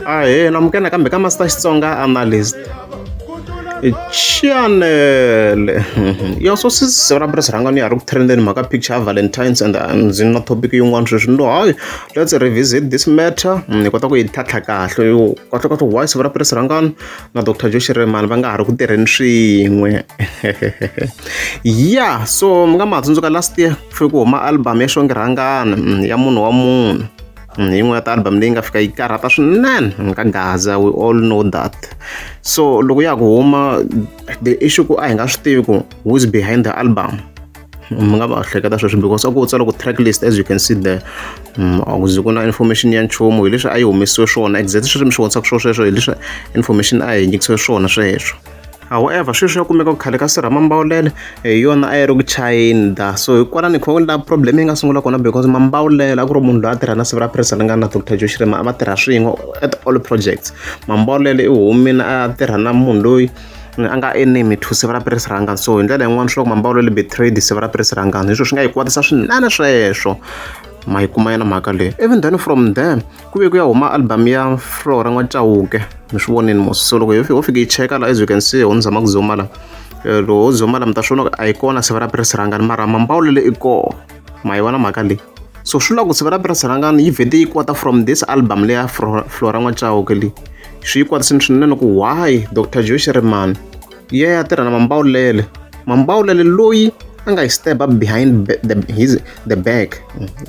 Ahee, namukela kambe ka Master Xitsonga Analyst. Chanele ya so sisisyo ra press rhangani ya ri ku trendeni mhaka picture ya Valentine's and uh, ndzi na topic yin'wana sweswi ndo hayi let's revisit this matter mm, ni kota ku yi tlhatlha kahle yo kahle kahle why siku ra press rhangani na Dr. Josh Remani va nga ha ri ku tirheni swin'we ya so mi nga ma tsundzuka last year ku fike ku huma album ya xongi rhangani mm, ya munhu wa munhu Hi yin'we ya ti-album leyi nga fika yi karhata swinene nkagaza we all know that so loko ya ku huma the issue ku a hi nga swi tivi ku who's behind the album mi nga va hleketa sweswo because a ku tsala ku track list as you can see there mm, a ku zi ku na information ya nchumu hi leswi a yi humesiwe swona exactly sweswi mi swi vonisaka swo sweswo hi leswi information a yi nyikisiwe swona sweswo However, sweswi ya kumeka ku khale ka Sir Mambawulele hi yona a yi ri ku China. So hi kwala ni kha la problem yi nga sungula kona because Mambawulele a ku ri munhu loyi a tirha na siku ra president nga na Dr. Joe Shirima a va tirha swin'we at all projects. Mambawulele i humile a tirha na munhu loyi a nga enemy to siva ra Piris Rangani so hi ndlela yin'wana swi vulaka ku betrayed siva ra Piris Rangani hi swona swi nga hi kwatisa swinene sweswo ma yi kuma yona mhaka leyi even then from there ku ve ku ya huma album ya flora n'wa chauke mi swi vonini mos so loko ho fika yi cheka la as you can see ho ni zama ku zoma la eh, loko ho zoma la mi ta swi vona a yi kona siva ra pirisi rangani mara mambawulele i koho ma yi vona mhaka leyi so swi lava ku siva ra pirisi rangani yi vhete yi kwata from this album leya flora n'wa chauke leyi swi yi kwatisini swinene ku why dr joe shirimani ya ya tirha na mambawulele mambawulele loyi a nga hi step up behind ba- the, his, the back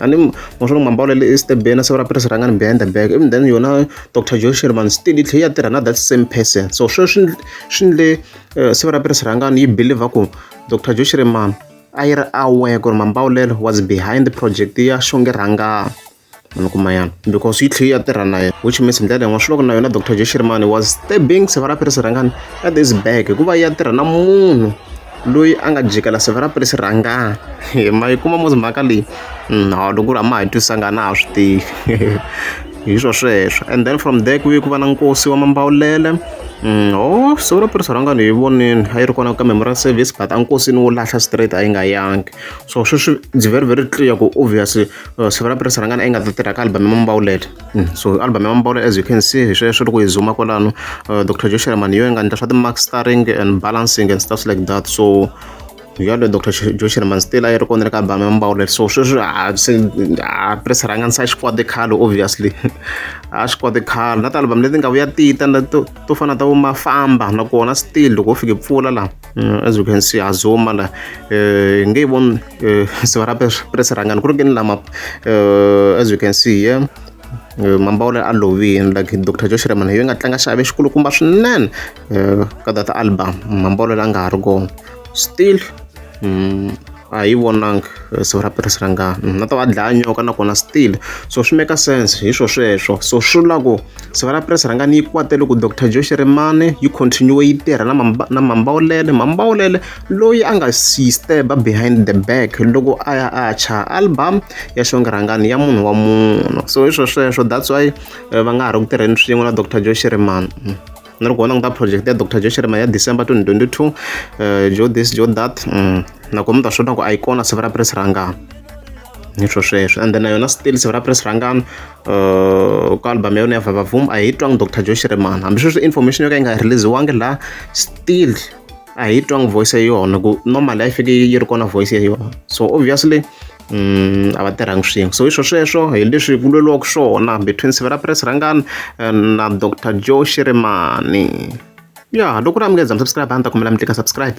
ani mosolo mambawulele i step bena siku ra pirisi rangani behind the back even then yona dr joe sherman still yi tlhe yi ya tirha na that same person so sweswo swi ndl- swi ndle eh, siku ra pirisi rangani yi believer ku dr joe sherman a yi ri aware ku ri mambawulelo was behind the project ya xonge rhangani mi kuma yana because yi tlhela yi ya tirha na yena which means hi ndlela yin'wana swi loko na yona doctor jeshirimani was stabbing sevara piri sirhangani at this back hikuva yi ya tirha na munhu loyi a nga jikela sevara piri sirhangani ma yi kuma muzi mhaka leyi no mm, loko ku ri a ma ha twisanga na ha swi tivi hi swo sweswo and then from there ku ye ku va na nkosi wa mambawulele mm, o oh, siku ra piri sirhangani hi vonini a yi ri kona ka memorial service but a nkosini wo lahla straight a yi nga yangi so sweswi it's very very clear ku obviously Uh, siku ra pirisa ra ngana i nga ta tirha ka album ya mambawulele mm. so album ya mambawulele as you can see hi sweswo loko hi zuma kwalano uh, dr joe sherman yo yi nga endla swa ti-mark starring and balancing and stuff like that so yaloye dr joe sherman still a yi ri kona le ka album ya mambawulele so sweswi a pirisa ra ngana sa xikwadi khale obviously a xikwadi khale na ti-album leti nga vuya tita to fana ta vo mafamba nakona still loko u fike pfula laha Mm, as you can see azoma la eh, nge yi voni eh, siva ra press rangani ku ri kini lama eh, as you can see yeah mambawula a lovini like dr josh reman yi nga tlanga xave xikulukumba swinene ka that album mambawula la nga ha ri kona still mm, a hi vonanga eh, siku ra pirisi ra ngana mm, na ta va dlaya nyoka nakona still so swi make sense hi swo sweswo so swi vula ku siku ra pirisi ra ngana yi kwate loko dr joe xirimane yi continue yi tirha na na mambawulele mambawulele loyi a nga sisteba behind the back loko a ya a cha album ya xongirangani ya munhu wa munhu so hi swo sweswo that's why eh, va nga ha ri ku tirheni swin'we na dr joe xirimane mm. ni ri ku vona ku ta project ya dr joshirima ya december 2022 uh, eh, jo this jo that mm. nakona mi ta swi vona ku a yi kona siku ra press rangana ni swo sweswo and then na yona still siku ra press rangana uh, ka album ya yona ya vavavum a hi twanga dr joshirimana hambi sweswi information yo ka yi nga releasiwangi laha still a hi twanga voice ya yona ku normal a yi fike yi ri kona voice ya yona so obviously a va tirhangi swin'we so hi swo sweswo hi leswi ku lweriwaka swona between sivera press rhangani eh, na dr joe shirimani ya loko ri amukeza mi subscribe a ni ta kombela mi tlika subscribe